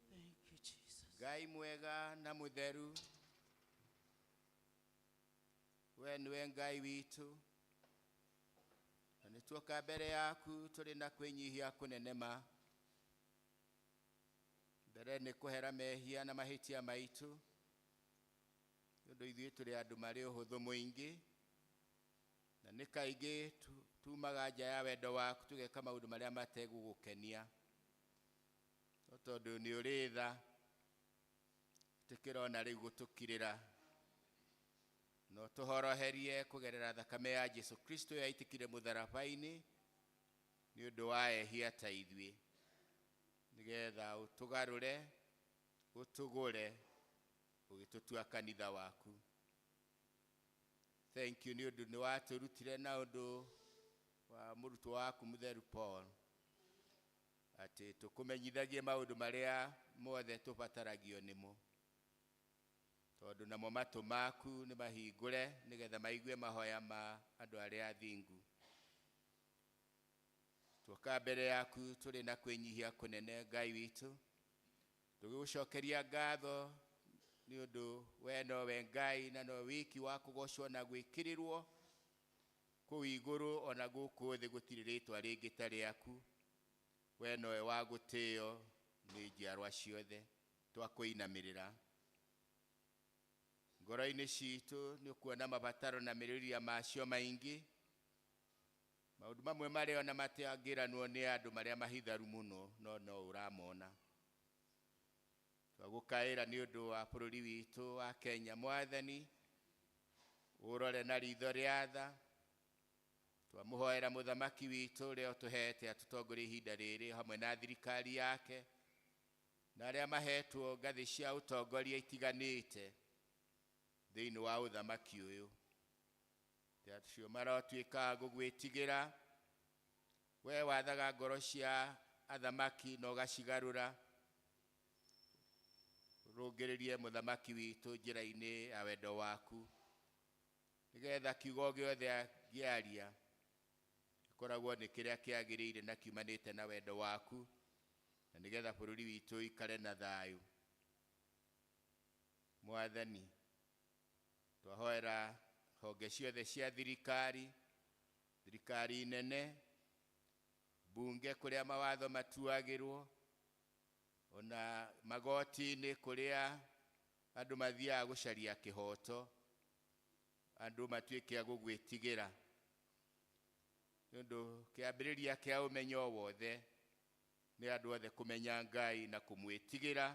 Thank you, Jesus. ngai mwega na mũtheru we nĩwe ngai witũ na nĩ tuoka mbere yaku tũrĩ na kwĩnyihia kũnene ma mbere nĩ kũhera mehia na mahĩtia maitũ nĩ ũndũ ithuĩ tũrĩ andũ marĩ ũhũthũ mũingĩ na nĩ kaingĩ tu- tumaga nja ya wendo waku tũgeka maũndũ marĩa mategũgũkenia no tondũ nĩ ũrĩ tha ĩtĩkĩra ona rĩu gũtũkirĩra na ũtũhoroherie kũgerera thakame ya jesu kristo yaitĩkire mũtharaba-inĩ nĩ ũndũ wa ehia ta ithuĩ nĩgetha ũtũgarũre ũtũgũre ũgĩtũtua kanitha waku thank you nĩ ũndũ nĩ watũrutire na ũndũ wa mũrutwo waku mũtheru paul Atĩ tũkũmenyithagie maũndũ marĩa mothe tũbataragio nĩmo, tondũ namo matũ maku nĩ mahingũre nĩ getha maigue mahoya ma andũ arĩa athingu. Tuoka mbere yaku tũrĩ na kwĩnyihia kũnene, Ngai witũ, tũgĩgũcokeria ngatho nĩ ũndũ we nowe Ngai na no wiki wa kũgocwo na gwĩkĩrĩrwo kũu igũrũ, o na gũkũ thĩ gũtirĩ rĩtwa rĩngĩ ta rĩaku. We nowe wa gũtĩo nĩ njiarwa ciothe, twakũinamĩrĩra. Ngoro-inĩ citũ nĩ ũkuona mabataro na merirĩria macio maingĩ, maũndũ mamwe marĩa ona matangĩranwo nĩ andũ marĩa mahitharu mũno, no no ũramona. Twagũkaĩra nĩ ũndũ wa bũrũri witũ wa Kenya, Mwathani, ũrore na ritho rĩa tha, Twamũhoera Mũthamaki witũ ũrĩa ũtũheete atũtongorie ihinda rĩrĩ o hamwe na thirikari yake na arĩa maheetwo ngathĩ cia ũtongoria itiganĩte thĩinĩ wa ũthamaki ũyũ, atĩ acio marotuĩka a gũgwĩtigĩra Wee wathaga ngoro cia athamaki na ũgacigarũra, ũrũngĩrĩrie Mũthamaki witũ njĩra-inĩ ya wendo waku. Nĩgeetha kiugo o gĩothe angĩaria gĩkoragwo nĩ kĩrĩa kĩagĩrĩire na kiumanĩte na wendo waku, na nĩgeetha bũrũri witũ ũikare na thayũ. Mwathani, twahoera honge ciothe cia thirikari, thirikari nene, mbunge kũrĩa mawatho matuagĩrwo, o na magoti-inĩ kũrĩa andũ mathiaga gũcaria kĩhooto, andũ matuĩke a gũgwĩtigĩra nĩ ũndũ kĩambĩrĩria kĩa ũmenyo o wothe nĩ andũ othe kũmenya ngai na kũmwĩtigĩra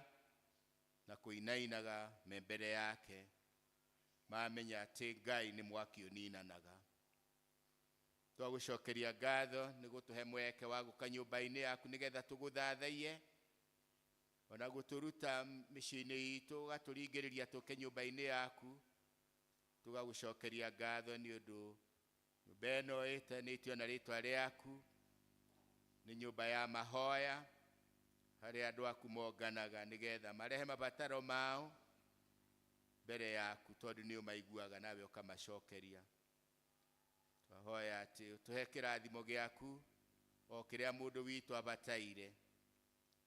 na kũinainaga me mbere yake mamenya atĩ ngai nĩ mwaki ũninanaga twagũcokeria ngatho nĩ gũtũhe mweke wa gũka nyũmba-inĩ yaku nĩgetha tũgũthathaiye O na gũtũruta mĩciĩ-inĩ itũ, ũgatũringĩrĩria tũke nyũmba-inĩ yaku, tũgagũcokeria ngatho nĩ ũndũ nyũmba ĩno ĩtanĩtio na rĩtwa rĩaku, nĩ nyũmba ya mahoya, harĩa andũ aku monganaga nĩgetha marehe mabataro mao mbere yaku, tondũ nĩ ũmaiguaga nawe ũkamacokeria. Twahoya atĩ ũtũhe kĩrathimo gĩaku o kĩrĩa mũndũ witũ abataire.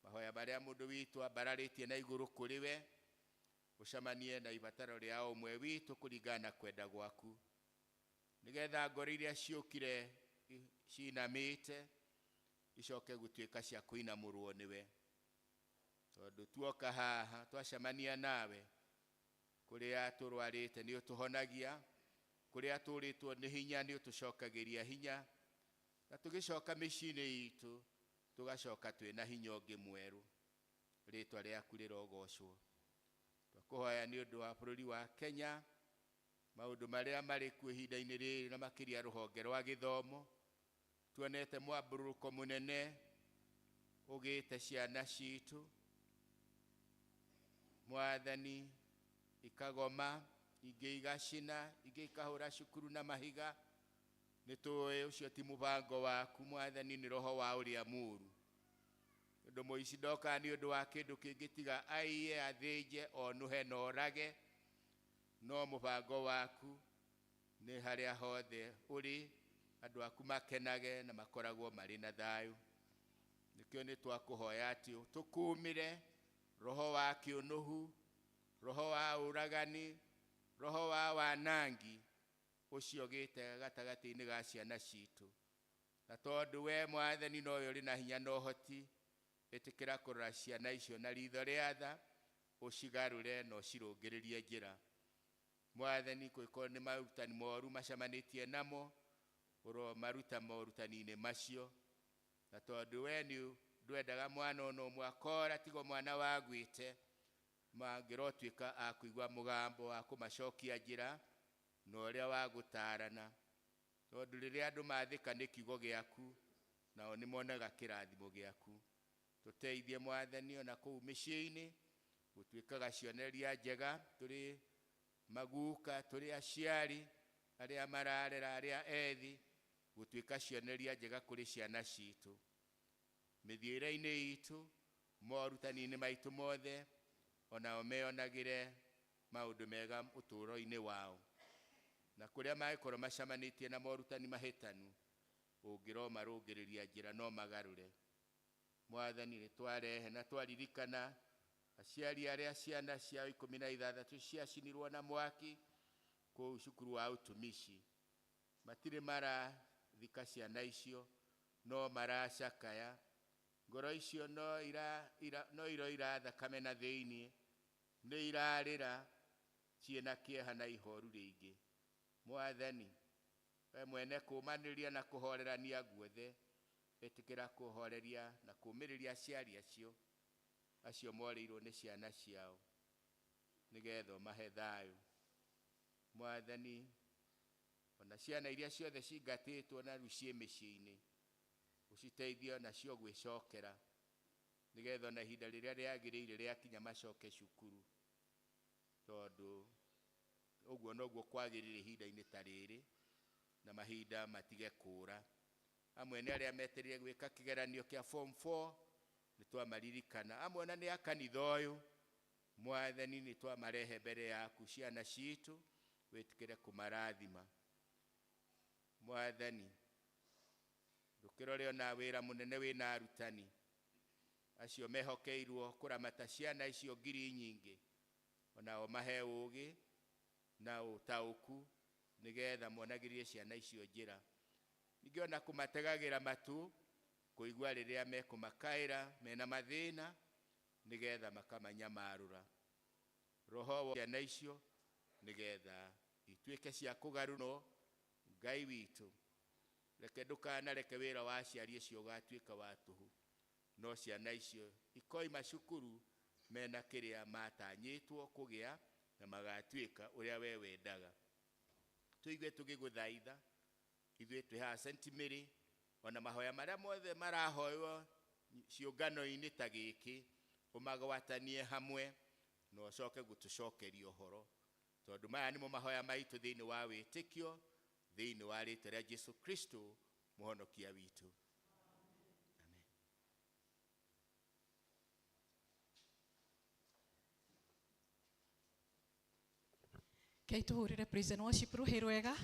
Mahoya marĩa mũndũ witũ ambararĩtie na igũrũ kũrĩ we, gũcamanie na ibataro rĩa o ũmwe witũ kũringana na kwenda gwaku, nĩ getha ngoro iria ciũkire ciinamĩte icoke gũtuĩka cia kũinamũrwo nĩwe. Tondũ tuoka haha twacamania nawe, kũrĩa tũrwarĩte nĩ ũtũhonagia, kũrĩa tũũrĩtwo nĩ hinya nĩ ũtũcokagĩria hinya, na tũgĩcoka mĩciĩ-inĩ itũ Tũgacoka twĩ na hinya ũngĩ mwerũ. Rĩtwa rĩaku rĩrogocwo. Twakũhoya nĩ ũndũ wa bũrũri wa Kenya, maũndũ marĩa marĩ kuo ihinda-inĩ rĩrĩ na makĩria rũhonge rwa gĩthomo. Tuonete mwambũrũrũko mũnene ũgĩte ciana citũ. Mwathani, ikagoma, ingĩ igacina, ingĩ ikahũra cukuru na mahiga. Nĩ tũũĩ ũcio ti mũbango waku, Mwathani, nĩ roho wa ũrĩa mũũru. Tondũ mũici ndokaga nĩ ũndũ wa kĩndũ kĩngĩ tiga aiye, athĩnje, onũhe na orage, no mũbango waku nĩ harĩa hothe ũrĩ, andũ aku makenage na makoragwo marĩ na thayũ. Nĩkĩo nĩ twakũhoya atĩ ũtũkũũmĩre, roho wa kĩũnũhu, roho wa ũragani, roho wa wanangi, ũciogĩte gatagatĩ-inĩ ga ciana citũ. Na tondũ wee Mwathani nowe ũrĩ na hinya na ũhoti, ĩtĩkĩra kũrora ciana icio na riitho rĩa tha, ũcigarũre na ũcirũngĩrĩrie njĩra. Mwathani, kũngĩkorwo nĩ maũrutani moru macemanĩtie namo, ũromaruta morutani-inĩ macio. Na tondũ wee nĩ ndwendaga mwana o na ũmwe akoora, tiga o mwana wagwĩte, Mangĩrotuĩka a kũigua mũgambo wa kũmacokia njĩra na ũrĩa wa gũtaarana, tondũ rĩrĩa andũ maathĩka nĩ kiugo gĩaku, nao nĩ monaga kĩrathimo gĩaku. Tũteithie Mwathani o na kũu mĩciĩ-inĩ gũtuĩkaga cionereria njega tũrĩ maguuka, tũrĩ aciari, arĩa mararera, arĩa ethi, gũtuĩka cionereria njega kũrĩ ciana citũ. Mĩthiĩre-inĩ itũ, morutani-inĩ maitũ mothe, o nao meyonagĩre maũndũ mega ũtũũro-inĩ wao. Na kũrĩa mangĩkorũo macamanĩtie na morutani mahĩtanu, ũngĩromarũngĩrĩria njĩra no magarũre. Mwathani, nĩ twarehe na twaririkana aciari arĩa ciana ciao ikũmi na ithathatũ ciacinirũo na mwaki kũu cukuru wa Utumishi. Matirĩ marathika ciana icio, no maracakaya. Ngoro icio no ira, ira, no iroira thakame na thĩinĩ, nĩ irarĩra ciĩ na kĩeha na ihooru rĩingĩ. Mwathani, Wee mwene kũũmanĩrĩria na kũhoorerania guothe, ĩtĩkĩra kũhooreria na kũũmĩrĩria aciari acio, acio morĩirwo nĩ ciana ciao, nĩ geetha ũmahe thayũ. Mwathani, o na ciana iria ciothe cingatĩtwo na rĩu ciĩ mĩciĩ-inĩ, ũciteithie o nacio gwĩcokera, nĩgetha o na ihinda rĩrĩa rĩagĩrĩire rĩakinya macoke cukuru, tondũ ũguo noguo kwagĩrĩire ihinda-inĩ ta rĩrĩ, na mahinda matige kũũra. Amwe nĩ arĩa metereire gwĩka kĩgeranio kĩa form four, nĩ twamaririkana. Amwe o na nĩ a kanitha ũyũ, Mwathani nĩ twamarehe mbere yaku ciana citũ wĩtĩkĩre kũmarathima. Mwathani ndũkĩrore ona wĩra mũnene wĩna arutani acio mehokeirwo kũramata ciana icio ngiri nyingĩ onao mahe ũgĩ na ũtaũku nĩgetha monagĩrie ciana icio njĩra. Ningĩ ona kũmategagĩra matũ kũigua rĩrĩa mekũmakaĩra mena mathĩna nĩ getha makamanyamarũra, roho wa ciana icio nĩ getha ituĩke cia kũgarũrũo. Ngai witũ, reke ndũkanareke wĩra wa aciari ũcio ũgatuĩke wa tũhũ, no ciana icio ikoima cukuru mena kĩrĩa matanyĩtwo kũgĩa na magatuĩka ũrĩa Wee wendaga. Tũigue tũgĩgũthaitha, ithuĩ twĩ haha St. Mary, O na mahoya marĩa mothe marahoywo ciũngano-inĩ ta gĩkĩ, ũmagwatanie hamwe na ũcoke gũtũcokeria ũhoro, tondũ maya nĩmo mahoya maitũ thĩinĩ wa wĩtĩkio, thĩinĩ wa rĩĩtwa rĩa Jesu Kristo, Mũhonokia witũ. Amen. Kei tuhurire praise and worship ruhi rwega.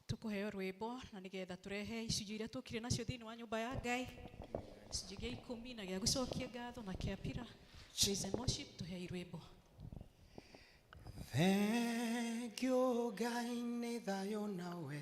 Tukuheo rwimbo na nigetha turehe icunjĩ iria tukire nacio thiini wa nyumba ya Ngai. Icunjĩ gia ikumi na gia gucokia ngatho na kia pira. Praise and worship tuhei rwimbo. Thank you, Ngai nĩ thayũ nawe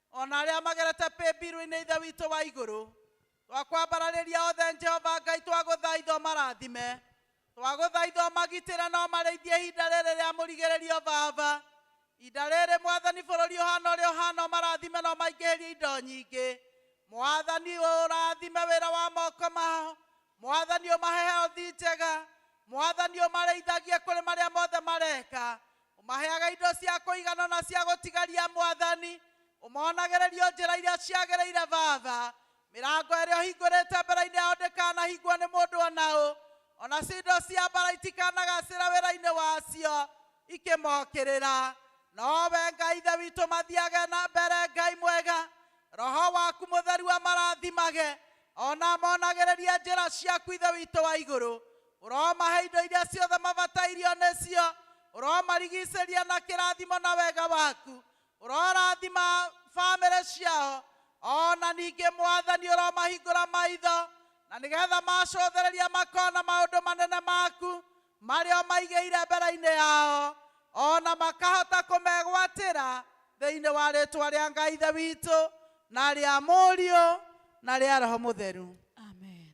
O na arĩa magerete pĩmbirũ-inĩ Ithe witũ wa igũrũ, twakwambararĩria othe Jehova Ngai twagũthaitha ũmarathime, twagũthaitha ũmagitĩre na ũmarĩithie ihinda rĩrĩ rĩa mũrigĩrĩrio Baba. Ihinda rĩrĩ Mwathani bũrũri ũhana ũrĩa ũhana ũmarathime na ũmaingĩhĩrie indo nyingĩ. Mwathani ũrathime wĩra wa moko mao, Mwathani ũmahe health njega, Mwathani ũmarĩithagie kũrĩ marĩa mothe mareka, Ũmaheaga indo cia kũigana na cia gũtigaria Mwathani, ũmonagĩrĩria o njĩra iria ciagĩrĩire Baba. Mĩrango ĩrĩa ũhingũrĩte mbere-inĩ yao ndĩkanahingwo nĩ mũndũ o na ũ, o nacio indo cia mbaara itikanagacĩra wĩra-inĩ wacio ikĩmokĩrĩra. No Wee Ngai Ithe witũ mathiage na mbere, Ngai mwega, Roho waku Mũtheru amarathimage, o na amonagĩrĩrie njĩra ciaku, Ithe witũ wa Igũrũ. Ũromahe indo iria ciothe mabatairio nĩcio, ũromarigicĩria na kĩrathimo na wega waku, ũrorathima famĩlĩ ciao, o na ningĩ Mwathani ũromahingũra maitho, na nĩgetha macũthĩrĩria makona maũndũ manene maku marĩa ũmaigĩire mbere-inĩ yao, o na makahota kũmegwatĩra thĩinĩ wa rĩtwa rĩa Ngai Ithe witũ, na rĩa Mũriũ, na rĩa Roho Mũtheru. Amen.